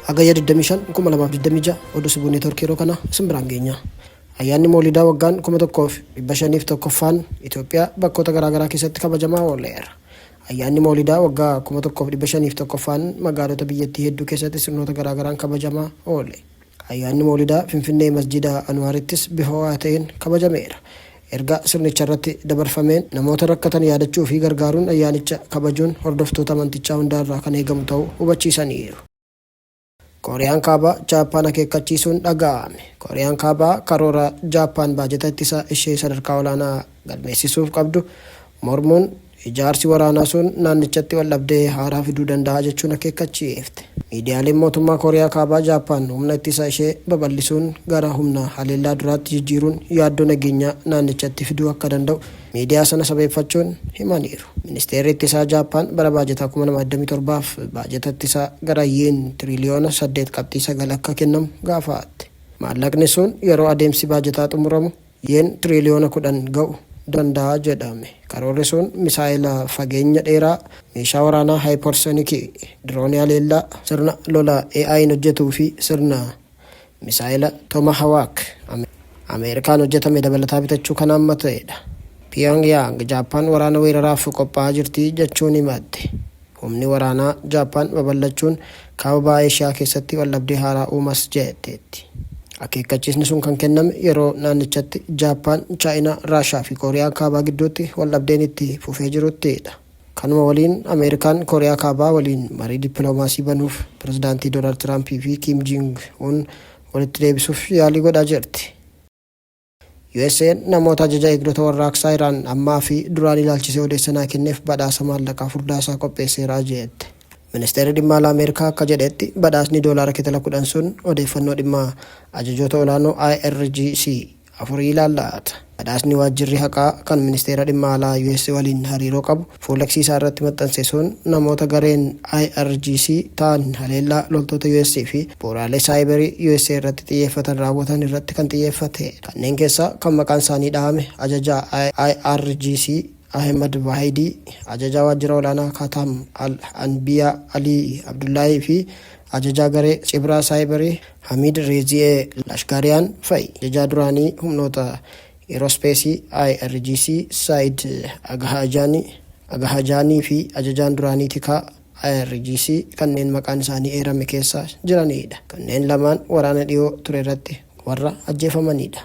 Hagayya 25, 2026 Oduu Sibuu Neetwoorkii yeroo kana isin biraan geenya. Ayyaanni Moolidaa waggaan 1501ffaan Itoophiyaa bakkoota garaagaraa keessatti kabajamaa ooleera. Ayyaanni Moolidaa waggaa 1501ffaan magaalota biyyattii hedduu keessatti sirnoota garaagaraan kabajamaa oole. Ayyaanni Mawlidaa Finfinnee Masjiida Anuwaarittis bifa ho'aa ta'een kabajameera. Ergaa sirnicharratti dabarfameen namoota rakkatan yaadachuu fi gargaaruun ayyaanicha kabajuun hordoftoota amantichaa hundaarraa kan eegamu ta'uu hubachiisaniiru. Kooriyaan Kaabaa Jaappaan akeekkachiisuun dhaga'ame. Kooriyaan Kaabaa karoora Jaappaan baajata ittisaa ishee sadarkaa olaanaa. galmeessisuuf qabdu mormuun ijaarsi waraanaa sun naannichatti waldhabdee haaraa fiduu danda'a jechuun akeekkachiifte. Miidiyaaleen mootummaa Kooriyaa Kaabaa Jaappaan humna ittisa ishee babal'isuun gara humna haleellaa duraatti jijjiiruun yaaddoo nageenyaa naannichatti fiduu akka danda'u miidiyaa sana sabeeffachuun himaniiru. Ministeerri Ittisaa Jaappaan bara baajataa 2027f baajata ittisaa gara Yeen tiriiliyoona 8.9 akka kennamu gaafaatte. Maallaqni sun yeroo adeemsi baajataa xumuramu Yeen tiriiliyoona 10 ga'u danda'a jedhame. Karoorri sun misaa'ela fageenya dheeraa, meeshaa waraanaa haayiparsonikii, diroonii haleellaa, sirna lolaa AI'n hojjetuu fi sirna misaa'ela Tomahawaak Ameerikaan hojjetame dabalataa bitachuu kan haammatedha. Piyoongiyaang Jaappaan waraana weeraraaf qophaa'aa jirti jechuun himatte. Humni waraanaa Jaappaan babal'achuun Kaaba Baha Eeshiyaa keessatti waldhabdee haaraa uumas jetteetti. Akeekkachiisni sun kan kenname yeroo naannichatti Jaappaan, Chaayinaa, Raashaa fi Kooriyaa Kaabaa gidduutti waldhabdeen itti fufee jirutti dha. Kanuma waliin Ameerikaan Kooriyaa Kaabaa waliin marii dippiloomaasii banuuf Pirezidaantii Doonaald Tiraampii fi Kiim Jiing Un walitti deebisuuf yaalii godhaa jirti. USA'n namoota ajaja eegdota warraaqsaa Iraan ammaa fi duraan ilaalchisee odeessa naa kenneef badhaasa maallaqaa furdaasaa qopheesseera jeette. Ministeerri Dhimma Alaa Ameerikaa akka jedhetti badhaasni doolaara kitala 10 sun odeeffannoo dhimma ajajoota olaanoo IRGC afurii ilaallata. Badhaasni waajjirri haqaa kan Ministeera Dhimma Alaa US waliin hariiroo qabu, Fuul'X isaa irratti maxxanse sun namoota gareen IRGC ta'an haleellaa loltoota US fi bu'uuraalee saayiberii usa irratti xiyyeeffatan raawwatan irratti kan xiyyeeffate. Kanneen keessaa kan maqaan isaanii dhahame ajajaa IRGC Ahemad Vaahidii, ajajaa waajjira olaanaa Kataam Al Anbiyaa Alii Abdullaahii fi ajajaa garee cibraa saayiberii Hamiid Reezi'ee Lashkaariyaan fa'i. Ajajaa duraanii humnoota Eeroospeesii IRGC Saa'id Agahajaanii, Agaha Jaanii, fi Ajajaan duraanii Tikaa IRGC kanneen maqaan isaanii eerame keessa jiraniidha. Kanneen lamaan waraana dhiyoo ture irratti warra ajjeefamaniidha.